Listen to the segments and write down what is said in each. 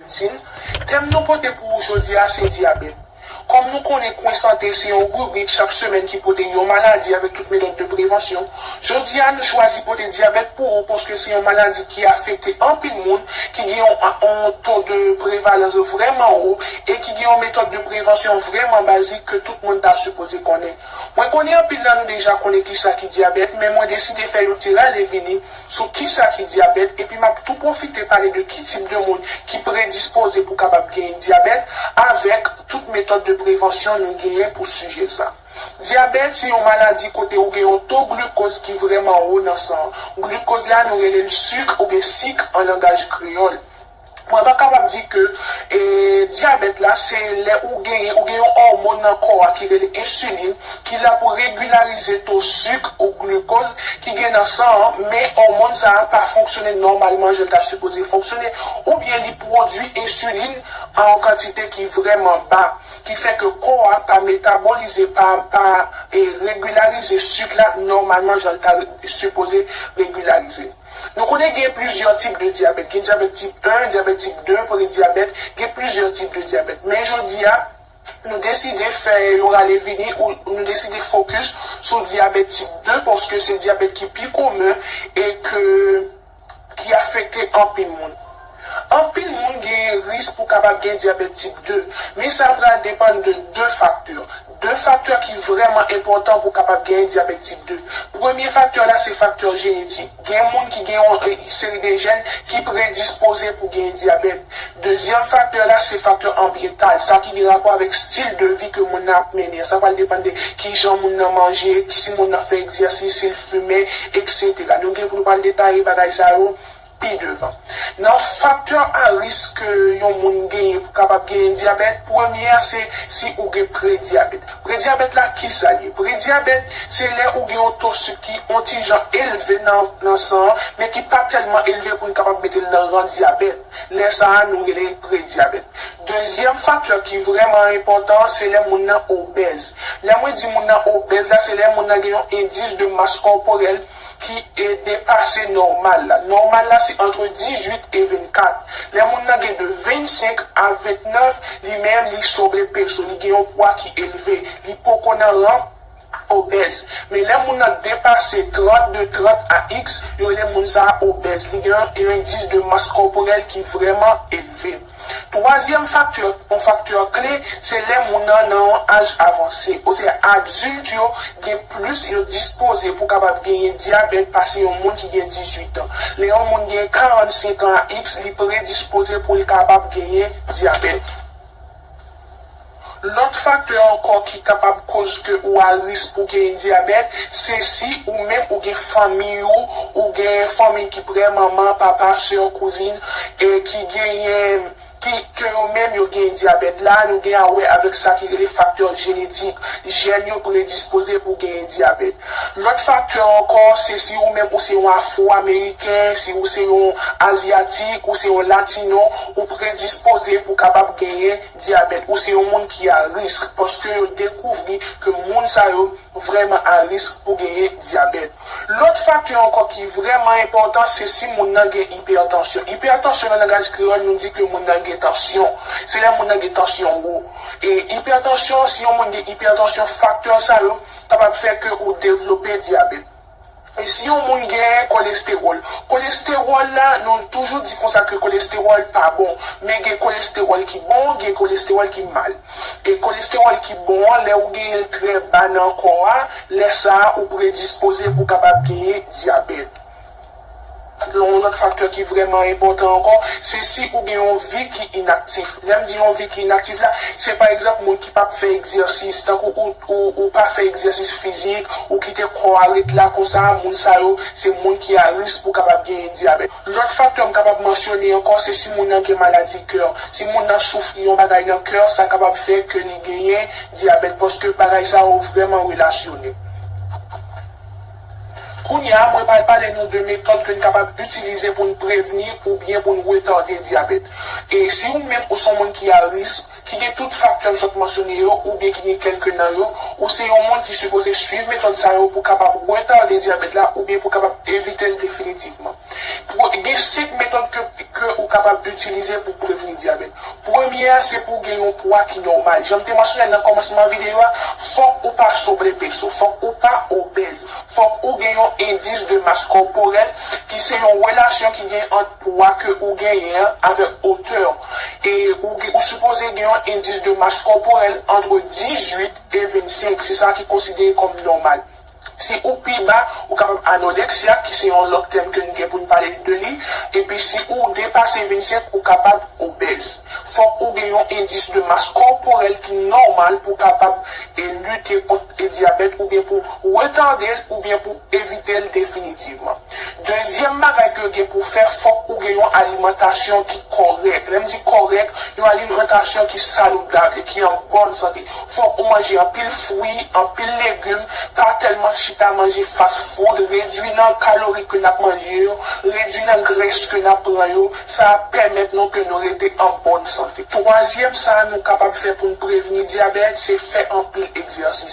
Medsin. Tèm nou pote pou ou jodi a se dyabèt. Kòm nou konnen Kwen Sante se yon ribrik chak semèn ki pote yon maladi avèk tout metòd de prevansyon, jodi a nou chwazi pote dyabèt pou ou paske se yon maladi ki afekte anpil moun, ki gen yon yon to de prevalans vrèman wo e ki gen yon metòd de prevansyon vrèman bazik ke tout moun ta sipoze konnen. Mwen konnen anpil nan nou deja konnen kisa ki dyabèt men mwen deside fè yon ti rale vini sou kisa ki dyabèt epi m ap tou pwofite pale de ki tip de moun ki predispoze pou kapab genyen dyabèt avèk tout metòd de prevansyon nou genyen pou sijè sa. Dyabèt se yon maladi kote ou gen yon to glukoz ki vrèman wo nan san an. Glukoz la nou rele l suk oubyen sik an langaj kreyòl. Mwen ta kapab di ke dyabèt la se lè ou genyen, ou gen yon òmòn nan kò a ki rele ensilin ki la pou regilarize to suk ou glukoz ki gen nan san an, men òmòn sa a pa fonksyone nòmalman jan l ta sipoze fonksyone oubyen li pwodui ensilin an yon kantite ki vrèman ba ki fè ke kò a pa metabolize, pa pa regilarize suk la nòmalman jan l ta sipoze regilarize. Nou konnen gen plizyè tip de dyabèt, gen dyabèt tip 1, dyabèt tip 2, prediabète, gen plizyè tip de dyabèt. Men jodi a, nou deside fè yon ale vini ou nou deside fokis sou dyabèt tip 2 paske se dyabèt ki pi komen e ke ki afekte anpil moun. Anpil moun genyen risk pou kapab gen dyabèt tip 2, men sa pral depann de 2 faktè. 2 faktè ki vrèman enpòtan pou kapab genyen dyabèt tip 2. Premye faktè la se faktè jenetik. Gen moun ki gen yon seri de jèn ki predispoze pou genyen dyabèt. Dezyèm faktè la se faktè anbyental, sa ki gen rapò avèk stil de vi ke moun nan ap mennen an. Sa pral depann de kijan moun nan manje, si moun nan fè egzèsis, si l fimen, eksetera. Nou gen pou nou pral detaye bagay sa yo. pi devan. Nan faktè a risk ke yon moun genyen pou kapab genyen dyabèt, premye a se si ou gen predyabèt. Predyabèt la kisa l ye? Predyabèt se lè ou gen yon to sik ki on ti jan elve nan nan san an, men ki pa tèlman elve pou n kapab mete l nan ran dyabèt. Lè sa a nou rele l predyabèt. Dezyèm faktè ki vrèman enpòtan se lè moun nan obèz. Lè mwen di moun nan obèz la se lè moun nan gen yon endis de mas kòporèl ki e depase nòmal la. Nòmal la se antre 18 e 24. Lè moun nan gen de 25 a 29, li menm li sobrepeso, li gen yon pwa ki elve, li poko nan ran obèz. Men lè moun nan depase 30, de 30 a x, yo rele moun sa a obèz, li gen yon indice de masse corporelle ki vrèman elve. Twazyèm fakti yo, yon fakti kle, se lè moun nan nan yon aj avanse, osea adilt yo gen plis yo dispoze pou kapab genyen dyabèt pase yon moun ki gen 18 an. Lè yon moun gen 45 an a x li predispoze pou l kapab genyen dyabèt. Lòt faktè ankò ki kapab koz ke ou a risk pou gen dyabèt, se si ou menm ou gen fanmiy ou, ou gen fanmiy ki prè, manman, papa, sè, kouzin, e ki genyen, ki, ke yo menm yo gen dyabèt. La a nou gen a wè avèk sa ki rele faktè jenetik, jèn yo predispoze pou genyen dyabèt. Lòt faktè ankò, se si ou menm ou se yon Afwo-Ameriken, si ou se yon Azyatik, ou se yon Latino, ou predispoze pou kapab genyen dyabèt. Ou se yon moun ki a risk, paske yo dekouvri ke moun sa yo vrèman a risk pou genyen dyabèt. Lòt faktè ankò ki vrèman enpòtan, se si moun nan gen ipètansyon. Ipètansyon nan langaj kreyòl nou di ke moun nan gen tansyon. Se lè moun nan gen tansyon wo. E ipètansyon, si yon moun gen ipètansyon, faktè sa yo, kapab fè ke ou devlope dyabèt. E si yon moun gen kolestewòl? Kolestewòl la, nou toujou di konsa ke kolestewòl pa bon. Men gen kolestewòl ki bon, gen kolestewòl ki mal. E kolestewòl ki bon an, lè ou genyen l trè ba nan kò a, lè sa a ou predispoze pou kapab genyen dyabèt. Yon lòt faktè ki vrèman enpòtan ankò, se si ou gen yon vi ki inaktif. Lè m di yon vi ki inaktif la, se pa egzanp moun ki pap fè egzèsis, tankou ou pa fè egzèsis fizik, ou kite kò a ret la konsa, moun sa yo se moun ki a risk pou kapab genyen dyabèt. Lòt faktè m kapab mansyone ankò, se si moun nan gen maladi kè. Si moun nan soufri yon bagay nan kè, sa kapab fè ke li genyen dyabèt, paske bagay sa yo vrèman relasyone. Kounye a, mwen pral pale nou de metòd ke n kapab itilize pou n prevni oubyen pou n retade dyabèt. E si ou menm ou se yon moun ki a risk, ki gen tout faktè m sot mansyone yo oubyen ki gen kèlke nan yo, ou se yon moun ki sipoze swiv metòd sa yo pou kapab retade dyabèt la oubyen pou kapab evite l definitivman. Gen 5 metòd ke ou kapab itilize pou prevni dyabèt. Premye a se pou w gen yon pwa ki nòmal. Jan m te mansyone nan kòmansman videyo a, fòk ou pa sobrepeso, fòk ou pa obèz, fòk ou gen yon endis de mas kòporèl ki se yon relasyon ki gen ant pwa ke ou genyen an avèk otè w. E ou sipoze gen yon endis de mas kòporèl antre 18 e 25, se sa ki konsidere kòm nòmal. Si ou pi ba, ou kapab anoreksyak, ki se yon lòt tèm ke n gen pou n pale de li, epi si ou depase 25, ou kapab obèz. Fòk ou gen yon endis de mas kòporèl ki nòmal pou kapab lite kont dyabèt oubyen pou retade l oubyen pou evite l definitivman. Dezyèm bagay ke w gen pou w fè, fòk ou gen yon alimantasyon ki kòrèk. Lè m di kòrèk, yon alimantasyon ki saludab e ki an bòn sante. Fòk ou manje anpil fwi, anpil legum, pa tèlman chita manje fast food, redwi nan kalori ke n ap manje yo, redwi nan grès ke n ap pran yo, sa ap pèmèt nou ke nou rete an bòn sante. Twazyèm sa nou kapab fè pou n prevni dyabèt, se fè anpil egzèsis.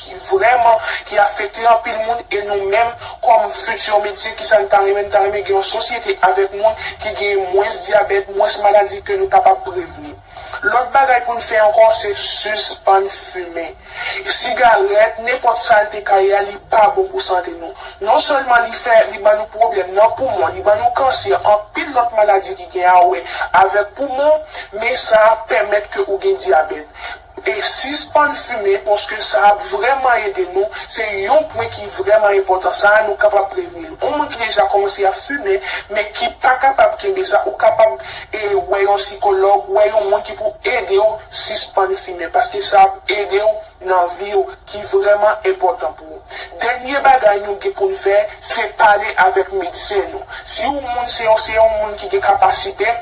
ki vrèman ki afekte anpil moun e nou menm kòm futur medsen kisa n ta renmen n ta renmen gen yon sosyete avèk moun ki genyen mwens dyabèt mwens maladi ke nou kapab prevni lòt bagay pou n fè ankò se sispann fimen sigarèt nenpòt sa l te ka ye a li pa bon pou sante nou non sèlman li fè li ban nou pwoblèm nan poumon li ban nou kansè anpil lòt maladi ki gen a wè avèk poumon men sa pèmèt ke ou gen dyabèt. E sispann fimen paske sa ap vrèman ede nou, se yon pwen ki vrèman enpòtan sa a nou kapab prevni l. On moun ki deja kòmanse ap fimen men ki pa kapab kenbe sa ou kapab e wè yon sikològ, wè yon moun ki pou ede w sispann fimen paske sa ap ede w nan vi w ki vrèman enpòtan pou ou. Dènye bagay nou gen pou n fè se pale avèk medsen nou. Si ou moun se yon se yon moun ki gen kapasite,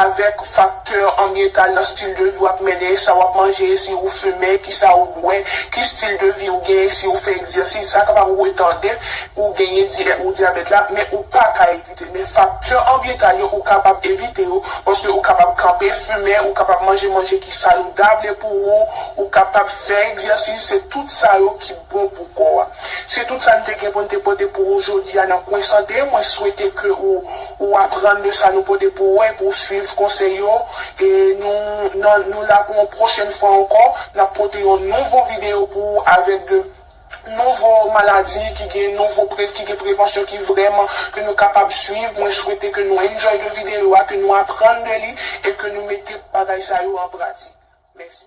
avèk faktè anbyental nan stil de vi w ap mennen, sa w ap manje, si ou fimen, ki sa ou bwè, ki stil de vi ou genyen, si ou fè egzèsis, sa kapab retade ou genyen di è ou dyabèt la, men ou pa ka evite l. Men faktè anbyental yo ou kapab evite yo, paske ou kapab kanpe fimen, ou kapab manje manje ki saludable pou ou, ou kapab fè egzèsis, se tout sa yo ki. Bon pou kò a. Se tout sa n te gen pou n te pote pou ou jodi a nan kwen sante, mwen swete ke ou ou aprann de sa nou pote pou ou e pou w swiv konsèy yo e nou nan nou la pou yon pwochèn fwa ankò n ap pote yon nouvo videyo pou ou avèk de nouvo maladi ki gen nouvo pre ki gen prevansyon ki vrèman ke nou kapab swiv mwen swete ke nou enjoy de videyo a ke nou aprann de li e ke nou mete bagay sa yo an pratik. Mèsi.